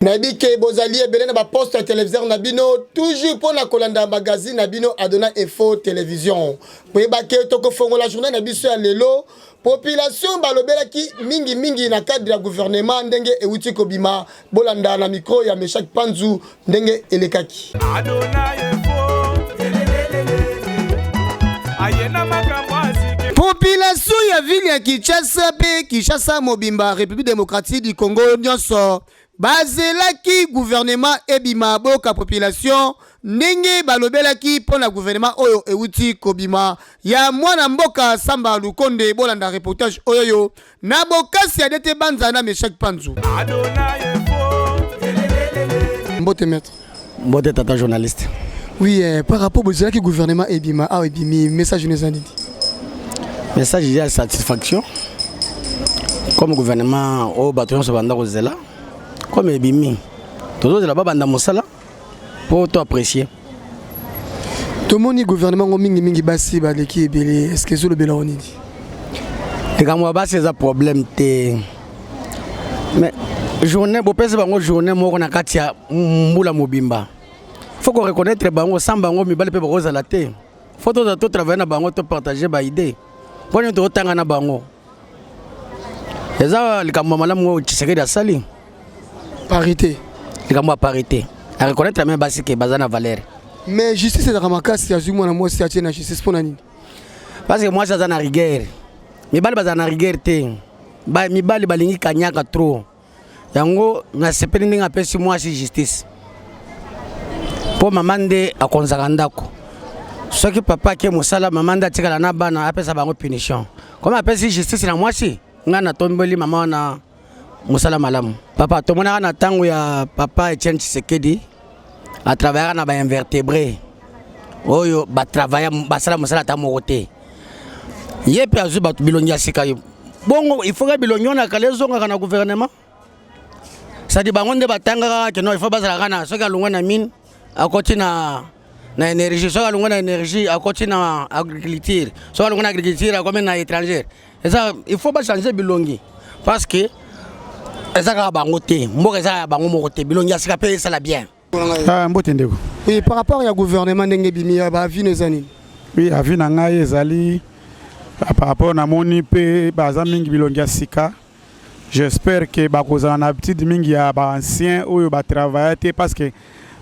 nayebi ke bozali ebele na baposte ya televiseur na bino toujours mpo na kolanda magazine na bino adona info television koyeba ke tokofongola journal na biso ya lelo population balobelaki mingi mingi na cadre ya gouvernement ndenge euti kobima bolanda na micro ya meshak panzu ndenge elekaki population ya ville ya kinshasa mpe kinshasa mobimba république démocratique du congo nyonso Bazelaki gouvernement ebima boyoka population ndenge balobelaki pona gouvernement oyo ewuti kobima ya mwana mboka Samba Lukonde bolanda reportage oyoyo na bokasi ya Dete Banza na Meshack Panzu. Mbote maitre. Mbote tata journaliste. Oui, eh, par rapport au qui gouvernement Ebima, ah Ebimi, message nous a dit. Message il y a satisfaction. Comme gouvernement au bâton se banda kozela, comme Ebimi, tous les là-bas banda mosala pour toi apprécier. Tout le monde gouvernement au mingi mingi basi baleki ebele, est-ce que zolo bela on dit? Les gars, moi basi c'est un problème. mais journée bopesi bango journée moko na kati ya mbula mobimba faut ko reconnaître bango sans bango mibali mpe bakozala te faut tozala to travaille na bango to partage baidée mpo nini tokotanga na bango eza likambo ya malamu oyo tshisekedi asali parité likambo ya parité areconnaitre meme basi ke baza na valeur mais justice ezalaka makasi azwi mwana mwasi atie na justice mpo na nini parce que mwasi aza na rigueur mibali bazala na rigueur te ba, mibali balingi kanyaka trop yango nasepeli ndenge apesi mwasi justice mpo mama nde akonzaka ndako soki papa ake mosala mama nde atikala na bana apesa bango punition koma apesi justice na mwasi ngai natombeli mama wana mosala malamu papa tomonaka na ntango ya papa etienne tshisekedi atravayaka na bainvertebre oyo batravaya basala mosala ata moko te ye mpe azwi bato bilongi ya sika yo bongo ifoka bilongi wana kala ezongaka na gouvernement sadi bango nde batangaka keno ifo bazalaka na soki alongwa na mine akoti na na énergie soki alongwa na énergie akoti na agriculture soki alongwa na agriculture akomi na étrangère eza il faut ba changer bilongi parce que eza kaka bango te mboka eza ya bango moko te bilongi ya sika mpe esala bien ah, mbote ndeko oui, par rapport ya gouvernement ndenge ebimi ya baavi na eza nini oui avi na ngai ezali ah, par rapport namoni mpe baza mingi bilongi ya sika j'espère ke bakozala na habitude mingi ya baancien oyo batravaille te parce que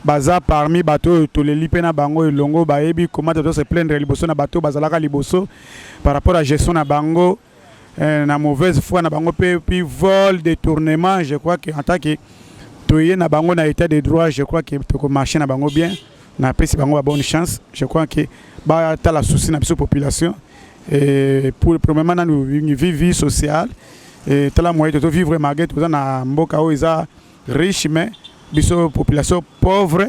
Baza parmi bato oyo toleli mpe na bango elongo, bayebi komata to se plaindre liboso na bato oyo bazalaka liboso par rapport ya gestion na bango na mauvaise foi na bango mpe puis vol, detournement, je crois que en tant que toye na bango na etat de droit, je crois que toko marcher na bango bien, na pesi bango ba bonne chance, je crois que ba tala souci na biso population et pour premièrement nanu vie vie sociale et tala moyen to vivre malgré toza na mboka oyo eza riche mais biso population pauvre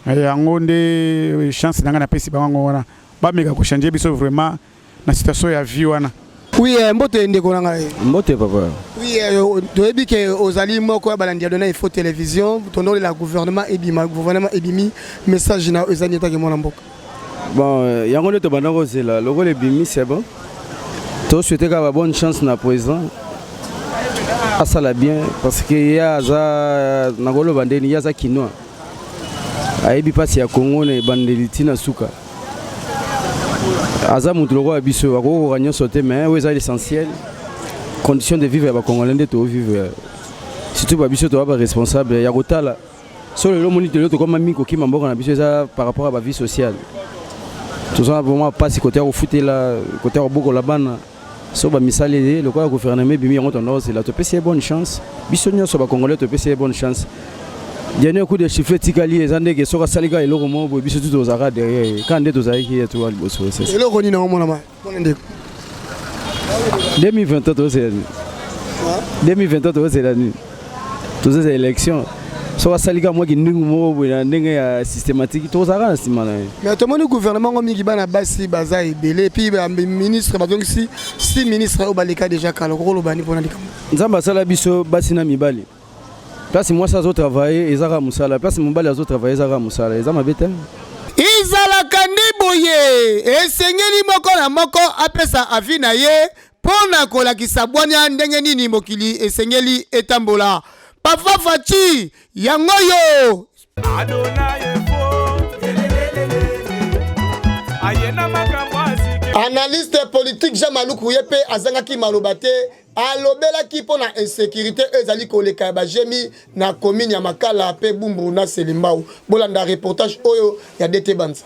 eh, yango nde eh, chance na ngai napesi bango yango wana bameka kochange biso vraiment na situation ya vie wana Oui, eh, mbote ndeko na ngai. Mbote papa. Oui, eh, toyebi ke ozali moko ya balandi ya Dona Info Television, tondoli la gouvernement ebima, gouvernement ebimi message na ezali etaki mwana mboka. Bon, euh, yango nde tobanda kozela lokola ebimi c'est bon. To souhaiter kaka bonne chance na président. Asala bien parce que ye aza nakoloba nde ye aza kinois. Ayebi mpasi ya Congo na ebandeli ti na suka. Aza moto lokola biso akoki kokoka nyonso te mais oyo eza l'essentiel condition de vivre ya bacongolais nde toovivre surtout babiso toa baresponsable ya kotala so lelo omoni lelo tokoma mingi kokima mboka na biso eza par rapport ya bavie sociale toza vraiment mpasi kote ya kofutela kote ya kobokola bana so bamisali ye lokola gouvernement ebimi yango tondozela topesi ye bonne chance biso nyonso bacongolais topesi ye bonne chance dernier coup de chiffre etikali eza ndenge soki asali kaka eloko moko boye biso tu tozalaka derrière ye kaka nde tozalaki ye toa liboso eloko nini yango monama Pone ndeko. 2023 tozela nini 2023 tozela nini tozeza élection so basalika mwa kindingu moko boye na ndenge ya systématique tozalaka na nsima na ye mais tomoni gouvernement ngo mingi bana basi baza ebele epuis baministre bazongisi si ministre oyo baleka déjà kala okokoloba ni mpona likambo nzambe asala biso basi na mibali Place mwasi azo travailler eza kaka musala, place mobali azo travailler eza kaka musala, eza mabe te. Ezalaka nde boye, esengeli moko na moko apesa avis na ye mpo na kolakisa bwania ndenge nini mokili esengeli etambola. Papa Fatshi, yango oyo. analyste politique jean maluku ye mpe azangaki maloba te alobelaki mpo na insécurité oyo ezali koleka ya bajemi na commune ya makala mpe bumburu na selimbau bolanda reportage oyo ya dete banza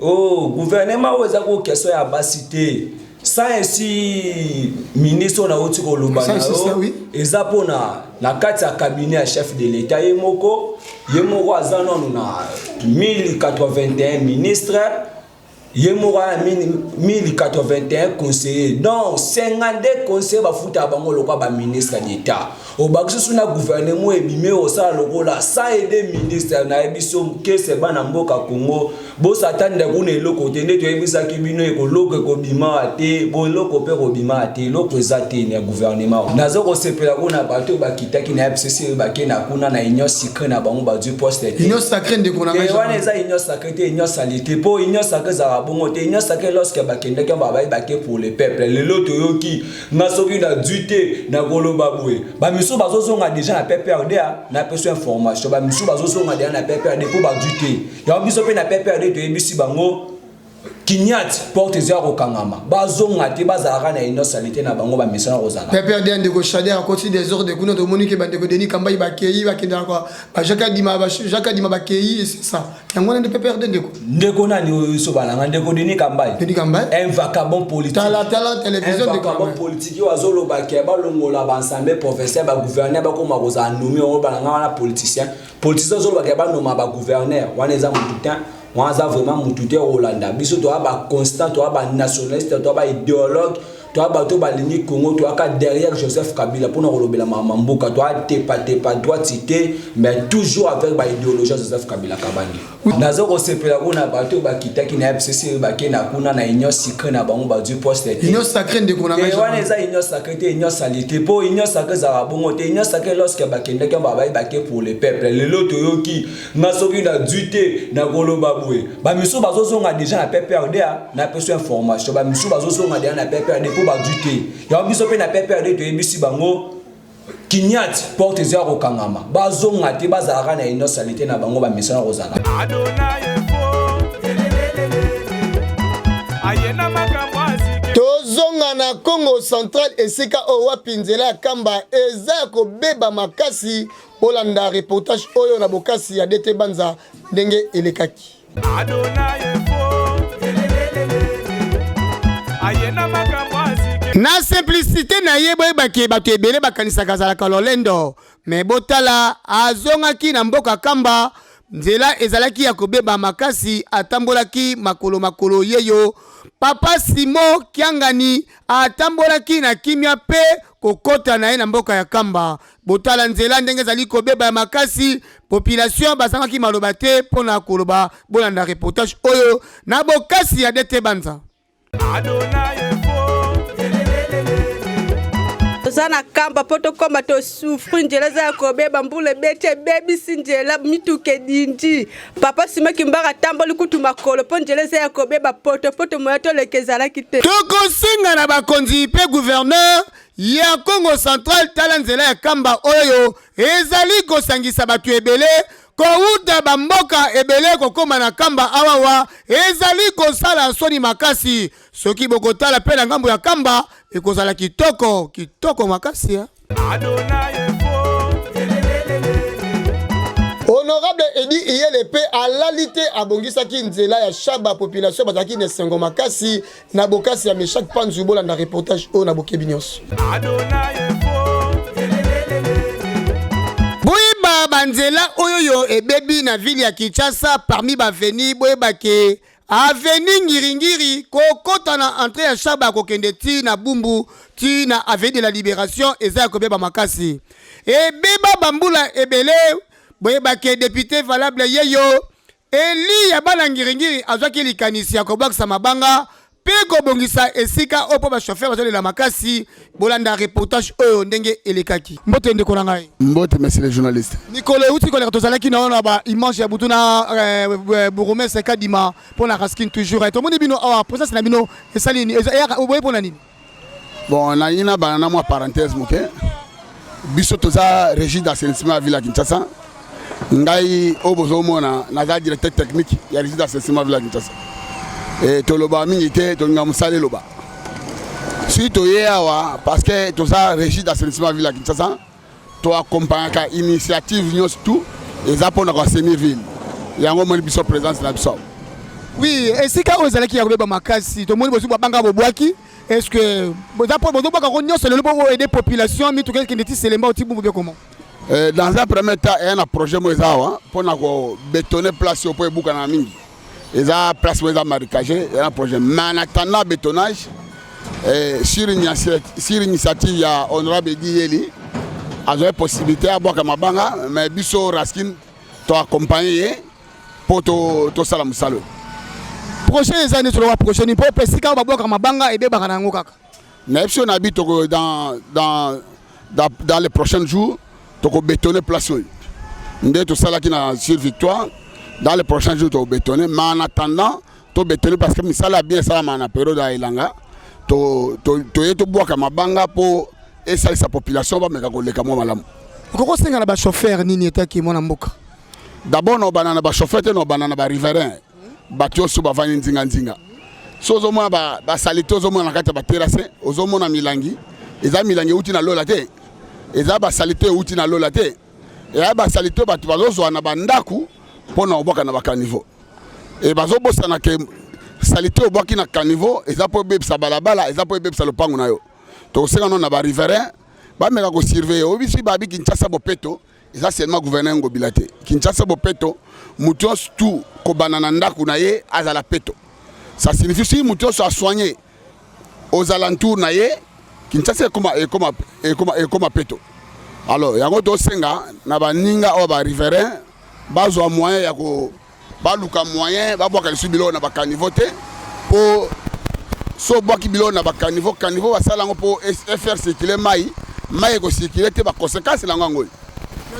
oh, guvernema oyo eza kokestion ya basi te ça esi ministre oyo nauti koloba na yo eza mpona na kati ya cabinet ya chef de l'etat ye moko ye moko aza nano na 1081 ministre ye moko aya 1081 conseiller donc 52 conseiller bafutaka bango lokwa baministre d'etat Obakisi osu na gouvernement ebimi osala lokola sans aide ministre na ye biso kese bana mboka Congo bosatanda kuna eloko te nde toyebisaki bino ekoloko ekobima te boloko mpe kobima te eloko eza te na gouvernement naza kosepela kuna bato bakitaki na FCC bake na kuna na union sacre na bango bazwi poste te union sacre ndeko na ngai wana eza union sacre te union salite mpo union sacre ezalaka bongo te union sacre lorsque bakendaki babaye bake pour le peuple lelo toyoki nga soki na dui te nakoloba boye bamisu bazozonga deja na pprd na peso information bamisu bazozonga deja na pprd mpo badui te yango biso mpe na pprd toyebisi bango kinyati porte eza ya kokangama bazonga te bazalaka na inosalite na bango bamesana kozala pprd ya ndeko shader akoti desordre kuna tomoni ke bandeko deni kambai bakei bakendaka bajaka dima bakei esesa yango wana nde pprd ndeko ndeko nani oyo iso balanga ndeko denis kambai denis kambai un vacabon politique tala tala télévision de vacabon politique yo azoloba ke balongola bansambe professeur ba gouverneur bakoma kozala nomi yango balanga wana politicien politicien azoloba ke banoma ba gouverneur wana eza motu te wana aza vraiment motu te okolanda biso toya ba constant toya ba nationaliste toya ba idéologue toa bato balingi congo toaka derrière joseph kabila mpona kolobela mama mboka toatepatepa droiti te mais toujours avec baidéologie ya joseph kabila kabange naza kosepela kuna bato bakitaki na fcc bakenda kuna na union sacre na bango bazwi poste tewana eh, eza union sacre te union salite mpo union sacre ezalaka bongo te union sacre lorsque bakendaki babai bake pour le peuple lelo toyoki Nga soki na dui te na koloba boye ba misu bazo zonga deja na PPRD ah, na peso information ba misu bazo zonga deja na PPRD po ba dui te. Ya biso pe na PPRD to yebisi bango kinyati porte eza ko kangama. Ba zonga te ba zalaka na ino salite na bango ba misu na kozala. Adonai tozonga na congo central esika oyo wapi nzela ya kamba eza ya kobeba makasi Bolanda reportage oyo na bokasi ya DT Banza ndenge elekaki. na simplicité na ye boyebaki bato ebele bakanisaka azalaka lolendo me botala azongaki na mboka kamba nzela ezalaki ya kobeba makasi atambolaki makolo makolo yeyo papa simo kiangani atambolaki na kimia mpe kokota na ye na mboka ya kamba Botala nzela ndenge ezali kobeba ya makasi. Population bazangaki maloba te mpo na koloba. Bolanda reportage oyo na bokasi ya DT Banza. toza na kamba mpo tokoma tosufri nzela eza ya kobeba mbula ebeti ebebisi nzela mituka edindi papa sima kimbaka atamboli kutu makolo mpo nzela eza ya kobeba poto mpo tomoya toleka ezalaki te tokosenga na bakonzi mpe guverneur ya Kongo Central tala nzela ya kamba oyo ezali kosangisa bato ebele kowuta bamboka ebele kokoma na kamba awawa ezali kosala soni makasi soki bokotala mpe na ngambo ya kamba ekozala kitoko kitoko makasi ya. honorable edi iyele mpe alali te abongisaki nzela ya shaba population bazalaki na esengo makasi na bokasi ya Meshak Panzu bolanda reportage oyo na bokebi nyonso. Boyeba banzela oyo yo ebebi na ville ya Kinshasa parmi baveni boyeba ke aveni ngiringiri kokota na entre ya shaba kokende ti na bumbu ti na avenue de la liberation eza ya kobeba makasi ebeba bambula ebele boyeba ke depute valable yeyo Eliya bana ngiringiri azwaki likanisi ya kobwakisa mabanga mpe kobongisa esika oyo mpo bashofere bazolela makasi. Bolanda reportage oyo ndenge elekaki. Mbote ndeko na ngai. Mbote monsieur le journaliste. Mikolo euti koleka tozalaki na ona ba image ya butu na eh, eh, bourgmestre Kadima mpo na Raskin toujours. Eh, tomoni bino awa presence na bino esali nini? Eyaka oboye mpo na nini? Bon, nalingi nabana na mwa parenthèse moke biso toza régie d'assainissement ya ville ya kinshasa ngai oyo bozomona naza directeur technique ya régie d'assainissement ville ya kinshasa e, tolobaka mingi te tolinga mosala eloba si toye awa parce que toza régie d'assainissement ville ya kinshasa To accompagnaka initiative nyonso tout eza mpona kwa semi ville yango omoni biso présence na biso oui esika oyo ezalaki ya kobeba makasi tomoni bosuku babanga bobwaki est ce que boza mpo bozobwaka yango nyonso lelo boko aide population mituka ekende ti selemba oti bumbu bie koma eh, dans un premier temps eya na projet mo eza awa mpo na kobetone place oyo mpo ebukana mingi eza place moko eza maricage eza na projet mais en attendant bétonnage eh, sur initiative ya honorable edi yeli azwaki possibilité abwaka mabanga mais biso raskin toaccompagne ye mpo tosala to mosala oyo projet eza nde toloba projet nini mpo esika oyo babwaka mabanga ebebaka na yango kaka na ye biso na bi toko dans, dans, dans, dans les prochains jours tokobetone place oyo nde tosalaki na sur victoire dans les prochains jours tokobetone mais en attendant tobetone parce que misala ya bien esalama na periode ya elanga toye to, to, tobwaka mabanga mpo esalisa population bameka koleka mwa malamu okoki kosenga na bachauffeur nini etaki mwana mboka d'abord na obanda na bachauffeur te na obanda na bariverain bato nyonso bavandi nzinganzinga so ozomona basalite ozomona na kati ya baterase ozomona milangi eza milangi euti na lola te eza basalite euti na lola te eya basalite bato bazozwa na bandako mpo na kobwaka na bakanivo e bazobosana ke salite obwaki na kanivo eza mpo ebebisa balabala eza mpo ebebisa lopango na yo tokosenga no na bariverain bameka kosurveille oyebi soki babi kinshasa bopeto eza seulement gouverneur ngobila te kinshasa bopeto moto nyonso tu kobanda na ndako na ye azala peto ça signifie soki moto nyonso asoigne aux alentours na ye kinshasa ekoma ekoma ekoma ekoma peto alors yango tosenga na baninga oyo bariverain bazwa moyen ya ko baluka moyen babwaka lisusu biloko na bakanivo te mpo so obwaki biloko na bakanivo kanivo basala yango mpo fr circule mai mai ekocircule te baconsequence na yango yango oyo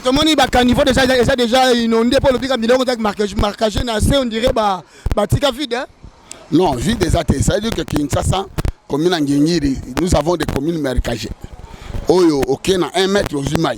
tomoni bakanivo deja eza deja inonde mpo olobika biloko ezaki markage na se ondire batika vide non vide eza te ça veut dire que kinshasa commune ya ngingiri nous avons des communes markage oyo oke na 1 mètre ozwi mai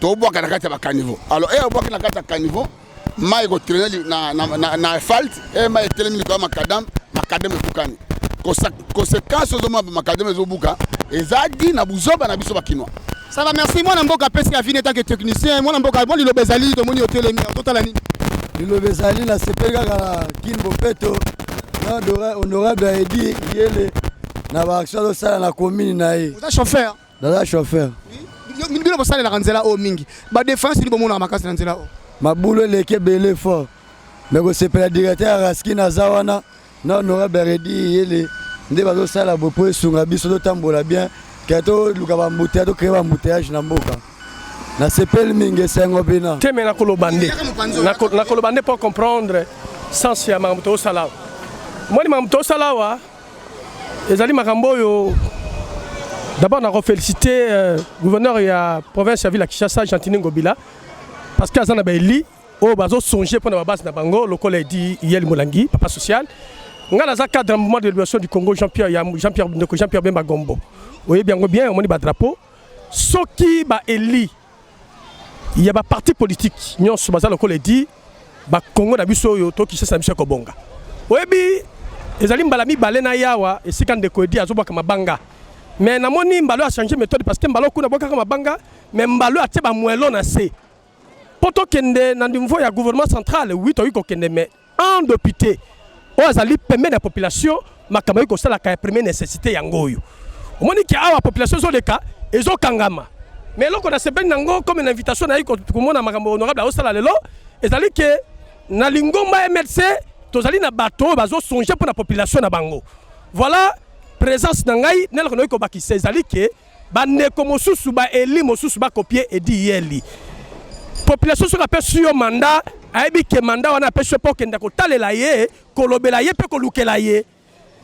tobwaka na kati ya bacaniveau alors eye obwaki na kati ya caniveau mai ekotrene na asphalte eye mai etelemi likolo ya makadame makadame ebukani conséquence ozomona makadame ezobuka eza di na buzoba na biso bakinois sava merci mwana mboka apesi ya vine etanke technicien mwana mboka mwa liloba ezali tomoni otelemi totala nini liloba ezali na sepeli kaka na kin bopeto na honorable aedi yele na baaction azosala na commune na ye oza chauffeur Naza chauffeur. Bino bosalelaka nzela oyo mingi. Ba defense nini bomonaka makasi na nzela oyo? Mabulu eleki ebele fort. Mais kosepela directeur ya Raskin aza wana na honorable Redi Yele nde bazosala bo mpo esunga biso totambola bien ke toluka bambuteya tokrea bambuteyage na mboka nasepeli mingi esengo bina te me nakoloba nde nakoloba nde mpo comprendre sens ya makambo tosala awa moni makambo tosala awa ezali makambo oyo d'abord nako félicité euh, gouverneur ya province ya ville ya Kinshasa Gentini Ngobila parce que aza na baeli oyo bazo songe mpo na babase na bango lokola edi yeli molangi papa social ngai naza cadre ya mouvement de libération du congo jean pierre ya jean pierre ndeko jean pierre bemba gombo oyebi yango bien omoni badrapeau soki baeli ya ba parti politique nyonso baza lokola edi bakongo na biso oyo to kishasa na biso ya kobonga oyebi ezali mbala mibale na yawa esika ndeko edi azobwaka mabanga me namoni mbalo achange méthode parce que mbalo kuna bwakaka mabanga me mbalo atie bamwelo na se mpo tokende na niveau ya gouvernement central wi toyei kokende me Un depute oyo azali pembeni ya population makambo ayaki kosalaka ya premier necessite yango oyo omoni ke awa population ezoleka ezokangama mais eloko nasepeli nango comme na invitation nayi komona makambo honorable aosala lelo ezali ke na lingomba mlc tozali na bato oyo bazosonge mpo na population na bango voilà présence na ngai na eloko nayoki kobakisa ezali ke Ba ndeko mosusu ba eli mosusu ba copier Edi Yeli. Population soki apesi yo mandat, ayebi ke mandat wana apesi yo mpo okenda kotalela ye, kolobela ye mpe kolukela ye.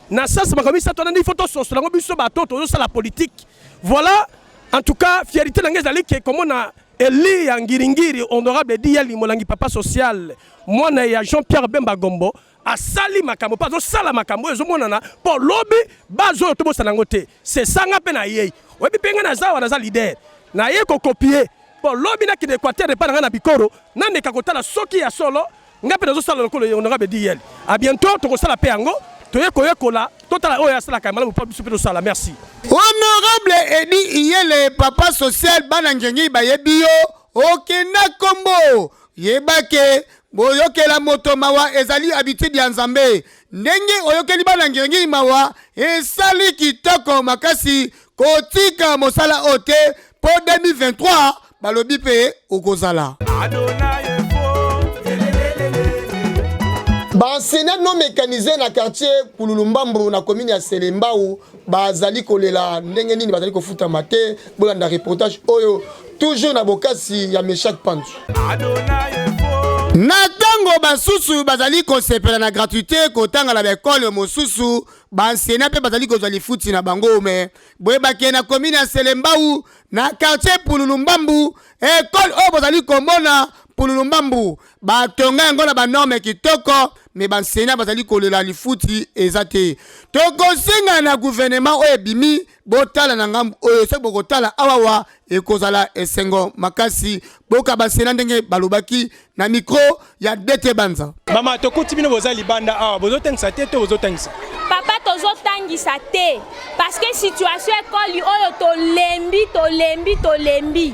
Na sasa makambo misato wana nde ifo tososola yango biso bato oyo tozosala politiki. Voilà, en tout cas fierite na ngai ezali ke komona eli ya ngiringiri honorable Edi Yeli molangi papa social mwana ya Jean Pierre Bemba Gombo asali makambo mpe azosala makambo oyo ezomonana mpo lobi bazo oyo tobosana yango te sesanga mpe nayei oyebi mpe ngai naza awa naza lider naye kokopie mpo lobi nakende equateur epai na ngai na bikoro nameka kotala soki ya solo ngai mpe nazosala lokolo honorable diyel a bientôt tokosala mpe yango toye koyekola totala oyo asalaka ya malamu mpo biso mpe tosala merci honorable edi iyele papa social bana ngengi bayebi yo okenda kombo Yeba ke boyokela moto mawa ezali habitude ya Nzambe. Ndenge oyokeli bana ngirngiri mawa esali kitoko makasi. Kotika mosala oyo te po 2023 balobi pe okozala. Ba enseignants non mecanisee na quartier Kululu Mbambo na commune ya Selembao bazali kolela ndenge nini bazali kofutama te bolanda reportage oyo toujours na bokasi ya meshak panzu na ntango basusu bazali kosepela na gratuité kotanga na baekole mosusu bansena mpe bazali kozwa lifuti na bango me boyebake na komine ya selembau na quartier pululu mbambu ekole oyo bozali komona pululu mbambu batonga yango na banorme kitoko me banseignant bazali kolela lifuti eza te tokosenga na guvernema oyo ebimi botala na ngambo oyo soki bokotala awawa ekozala esengo makasi boka banseignant ndenge balobaki na mikro ya dete banza mama tokuti bino boza libanda awa bozotangisa te to bozotangisa papa tozotangisa te parceke situation ekoli oyo tolembi tolembi tolembi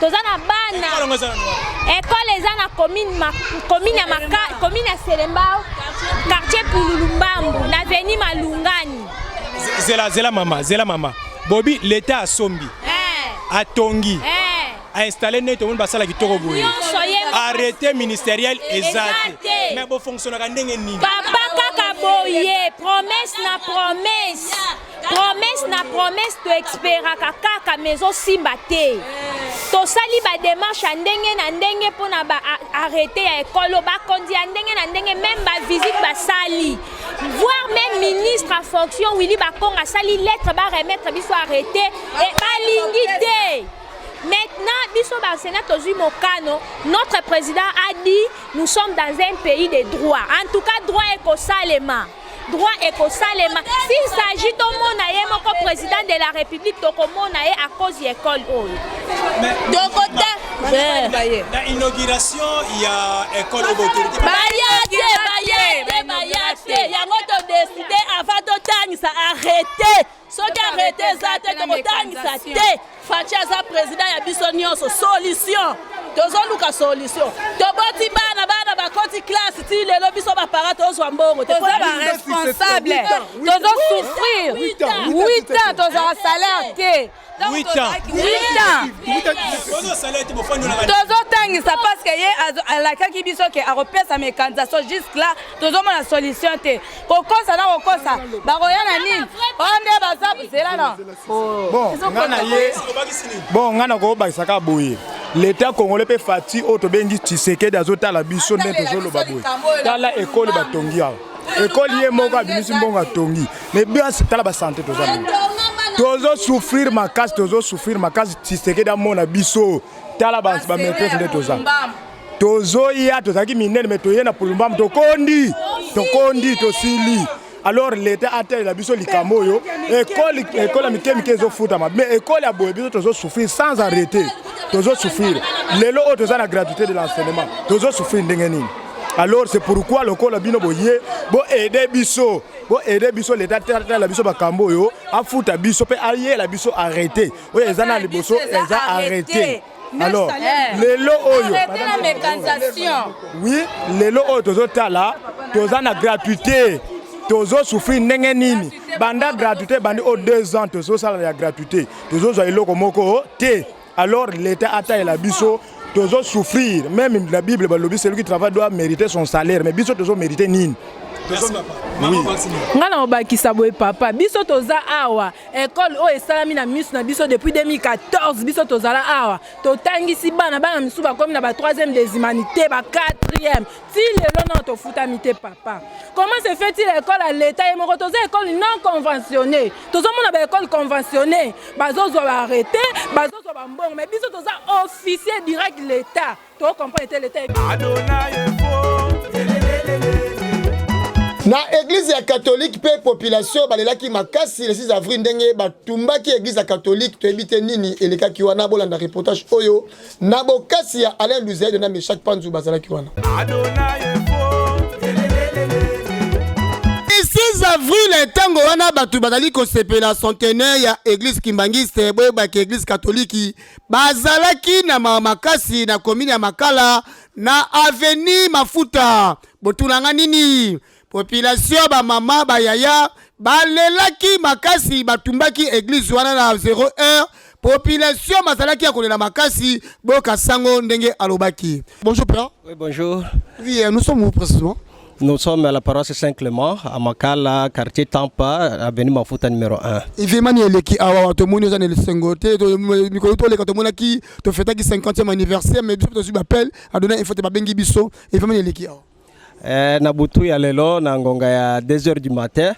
toza na bana ekole eza na commune ya selembao quartier pululu mbambu na veni malungani zela zela mama zela mama bobi leta asombi eh. atongi eh. ainstalle nde tomoni basala kitoko boye arrete ministériel eza te mais bofonctionnaka ndenge nini papa kaka boye promesse na promesse promesse na promesse toexperaka kaka mais ezosimba te tosali bademarche ya ndenge na ndenge mpo na baarrete ya ekolo bakonzi ya ndenge na ndenge meme bavisite basali voir meme ministre ya fonction willi bakonga asali lettre baremettre biso arrete e balingi te maintenant biso bansena tozwi mokano notre président a dit nous sommes dans un pays de droit en tout cas droit ekosalema droit ekosalema s'il s'agit tomona ye moko président de la république tokomona ye à cause ya école oyo dokota na inauguration ya école obotorite baya te baye baye te yango todeside avant totangisa arrete soki arrete eza te tokotangisa te faci aza president ya biso nyonso solution tozoluka solution toboti bana bana bakoti classe ti lelo biso bapara tozwa mbongo te toza baresponsable tozosouffrir 8 ans tozala salaire te tozotangisa parceke ye alakaki biso ke akopesa mekanisa so jusque là tozomona solution te kokosa na kokosa bakoya na nini oyo nde baza zela na bon ngai nakobakisa kaka boye leta congolais mpe fati oyo tobengi tshisekedi azotala biso nde tozoloba boye tala ekole batongi awa ekole ye moko abimisi mbongo atongi mais biasi tala basante toza nini tozo souffrir makasi tozo souffrir makasi tshisekedi amona biso tala bamaîtrise nde toza tozoya tozalaki minene me toye na pulumbamu tokondi tokondi tosili alors leta atalela biso likambo oyo ekole ekole ya mike mike ezofutama mais ekole ya boye biso tozosouffrir sans arrêter tozosouffrir lelo oyo toza na gratuité de l'enseignement tozosouffrir ndenge nini alors c'est pourquoi lokola bino boye boaide biso boaide biso leta atala biso makambo oyo afuta biso mpe ayela biso arrete oyo eza na liboso eza arrete alors eh. lelo oyo oui lelo oyo tozotala toza na gratuité tozosouffrir ndenge nini banda gratuité ebandi o 2 ans tozosala ya gratuité tozozwa eloko moko te alors l'état atalela biso tozosouffrir même la bible balobi celui qui travaille doit mériter son salaire mais biso tozomérite nini ngai na kobakisa boye papa biso toza awa ekole oyo esalami na miso na biso depuis 2014 biso tozala awa totangisi bana bana misusu bakomi na ba 3e des humanités ba 4e ti lelo nao tofutami te papa comment se fait il ekole ya leta ye moko toza ekole non conventionné tozomona baekole conventionné bazozwa baarrete bazozwa bambongo mais biso toza officier direct leta To comprendre te l'etat est Adonai na eglize ya katolike mpe population balelaki makasi le 6 avril ndenge batumbaki eglize ya katolike toyebi te nini elekaki wana bolanda reportage oyo na bokasi ya alain luzaido na meshak panzu bazalaki wana avril ntango wana bato bazali kosepela centenaire ya eglise kimbangiste boyebaki eglise katoliki bazalaki na mawa makasi na komini ya Makala na aveni Mafuta. Botunanga nini? Population ba mama ba yaya balelaki makasi, batumbaki eglise wana na 0 heure. Population bazalaki ya kolela makasi. Boyoka sango ndenge alobaki. Bonjour père. Oui, bonjour. Oui, euh, nous sommes où précisément? Nous sommes à la paroisse Saint-Clément, à Makala, quartier Tampa, avenue Mafuta numéro 1. Événement eleki awa tomoni oza na esengo te mikolo toleka tomonaki tofetaki 50e anniversaire mais biso tozwi bapele adona info te babengi biso événement eleki awa eh, na butu ya lelo na ngonga ya 2 heures du matin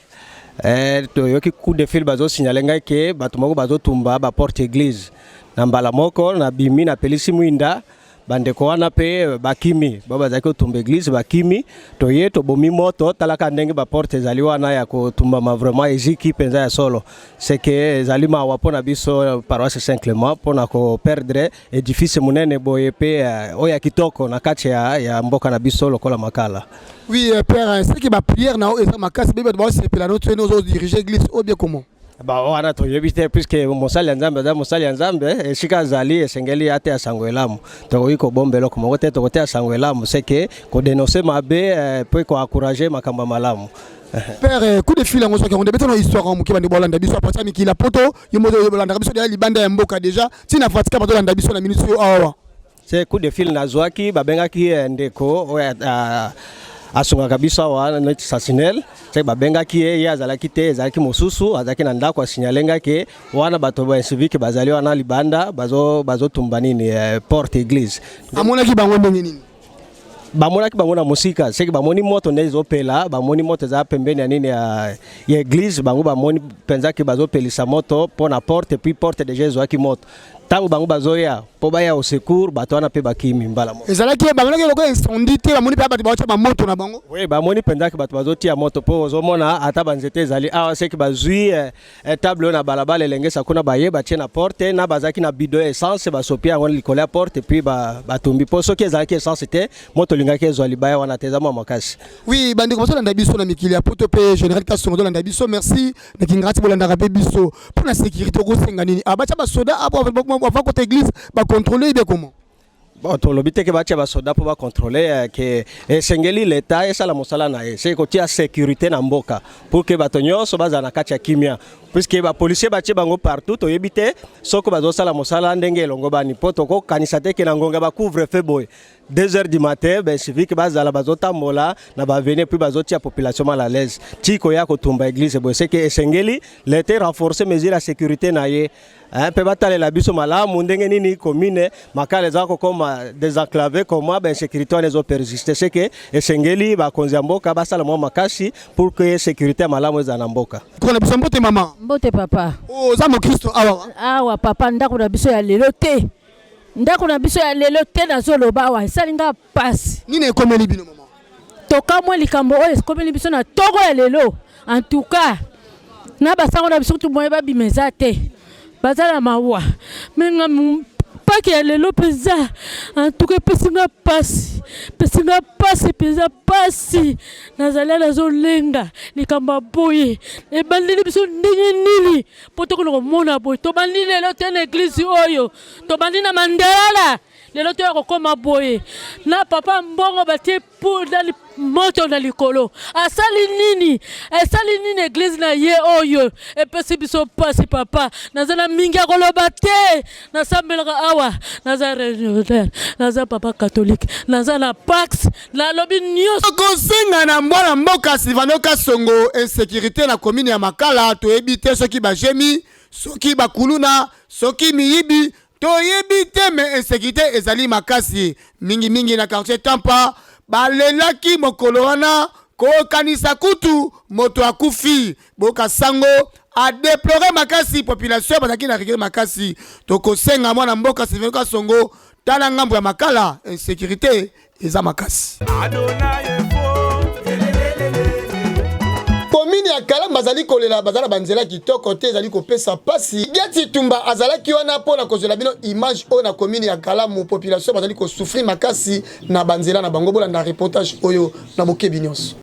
eh, toyoki coup de fil bazosignale ngai ke bato moko bazotumba baporte église na mbala moko nabimi napelisi mwinda bandeko wana mpe bakimi ba bazalaki kotumba eglise bakimi toye tobomi moto talaka ndenge baporte ezali wana ya kotumbama vraiment eziki mpenza ya solo seke ezali mawa mpo na biso paroisse saint clement mpo na koperdre edifice monene boye mpe eh, oyo ya kitoko na kati ya, ya mboka na biso lokola makala oui euh, père seke bapriere na yo eza makasi bebe bato baosepela no tsoye nozodirige eglise oyo bie comment ba wana toyebi te puiske mosali ya nzambe aza mosali ya nzambe eh, esika azali esengeli ateya sango elamu tokoki kobomba eloko moko te tokoteya sango elamu seke kodenonse mabe eh, mpe koencourage makambo ya malamu père eh, coup de fil yango soki yango nde betana histoire yango moke bande bolanda biso apati ya mikili ya poto yo moto olandaka biso deya libanda ya mboka déjà ntina vatican bazolanda biso na minute oyo awa se coup de fil nazwaki babengaki ye ndeko oyo asungaka biso awa neti sasinel se babengaki ye ye azalaki te ezalaki mosusu azalaki na ndako asignale ngai ke wana bato ba incivike bazali wana libanda bazotumba bazo nini eh, porte église amonaki bango ndenge nini bamonaki bango na mosika seke bamoni moto nde ezopela bamoni moto eza pembeni ya nini ya, ya eglise bango bamoni mpenza ke bazopelisa moto mpo na porte puis porte deja ezwaki moto ntango bango bazoya mpo baya au secours bato wana mpe bakimi mbala moko ezalaki bamonaki lokola incendie te bamoni mpe bato baotya bamoto na bango oui bamoni mpenzaki bato bazotia moto mpo ozomona ata banzete ezali awa ah, seki bazwi eh, eh, table oyo na balabala elengesa kuna baye batie na porte na bazalaki na bido ya essence basopi yango likolo ya porte puis batumbi mpo soki ezalaki essence te moto olingaki ezwa libaya wana te eza mwa makasi oui bandeko bazolanda biso na mikili ya poto mpe général kasongo tolanda biso merci na kingati bolandaka mpe biso mpo na sécurité okosenga nini ah, batya basoda apo ah, ava kota église bacontrole ibe comment bon tolobi teke batya basoda mpo bacontrole eh, ke esengeli eh, leta esala mosala na ye se kotia sécurité na mboka pour ke bato nyonso bazala na kati ya kimia puiske bapolisier batye bango partout toyebi te soki bazosala mosala ndenge elongobani mpo tokokanisa te ke na ngonga bacouvre fe boye 2 heures du matin ben civique bazala bazotambola na baveni epuis bazotia population mal à l'aise ti koya kotumba église boye seke esengeli lete renforce mesure ya sécurité na ye eh, mpe batalela biso malamu ndenge nini commune makala eza kokoma desenclave koma bainsécurité wana ezopersiste seke esengeli bakonzi ya mboka basala mwa makasi pour que sécurité ya malamu ezala na mboka kona biso mbote mama mbote papa oza oh, mokristo awa awa papa ndako na biso ya lelo te ndako na biso ya lelo te nazoloba awa esali nga mpasi nini ekomeli bino mama tokamwe likambo oyo ekomeli biso na togo ya lelo en tout cas na basango na biso kutu moye babima eza te baza na mawa menga paki ya lelo mpenza en tout cas epesi nga mpasi epesi nga mpasi mpenza mpasi nazali nazolenga likambo ya boye ebandeli biso ndenge nini mpo tokoki komona boye tobandi lelo te na eglize oyo tobandi na mandalala lelo toya kokoma boye na papa mbongo batie pudali moto na likolo asali nini esali nini eglize na ye oyo epesi biso mpasi papa naza na mingi ya koloba te nasambelaka awa naza religionnaire naza papa catholique naza na pax nalobi nyonso kosenga na mwana mboka silvano kasongo insécurité na komini ya makala toyebi te soki bajemi soki bakuluna soki miyibi toyebi te me insécurité ezali makasi mingimingi na quartier tampa balelaki mokolo wana kokanisa kutu moto akufi boka sango a deplore makasi population bazalaki na regret makasi tokosenga mwana mboka silveno kasongo tala ngambo ya makala insécurité eza makasi komini ya kalamu bazali kolela baza na banzela kitoko te ezali kopesa mpasi geti tumba azalaki wana mpo na kozwela bino image oyo na komini ya kalamu population bazali kosufri makasi na banzela na bango bolanda reportage oyo na bokebi nyonso.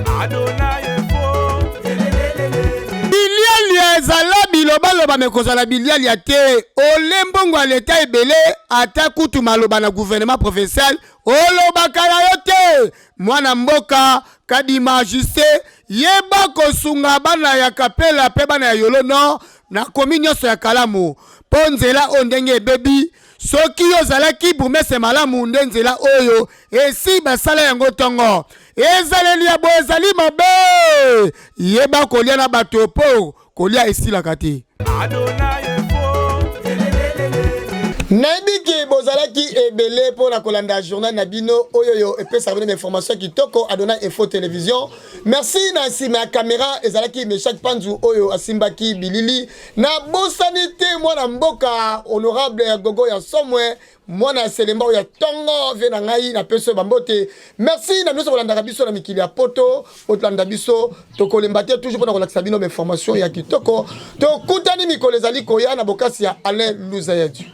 Bilialia ezala bilobaloba mais kozala bilialia te ole mbongo ya leta ebele ata kutu maloba na gouvernement provincial olobaka na yo te mwana mboka kadima juste yeba kosunga bana ya kapela mpe bana ya yolo nord na komi nyonso ya kalamu mpo nzela oyo ndenge ebebi soki yo ozalaki bourgmestre malamu nde nzela oyo esi basala yango ntongo ezaleli ya boye ezali mabe yeba kolya na bato mpo kolya esilaka te nayebi ke bozalaki ebele mpo na kolanda journal na bino oyo oyo epesaka bino bainformation kitoko adona info television merci na nsima ya kamera ezalaki meshak panzu oyo asimbaki bilili Na bosani te mwana mboka honorable ya gogo ya somwe mwana ya selemba oyo ya tongo vie na ngai na peso bambote merci na biso kolandaka biso na mikili ya poto otolanda biso tokolemba te toujours mpona kolakisa bino bainformation ya kitoko tokutani mikolo ezali koya na bokasi ya alain luza ya dieu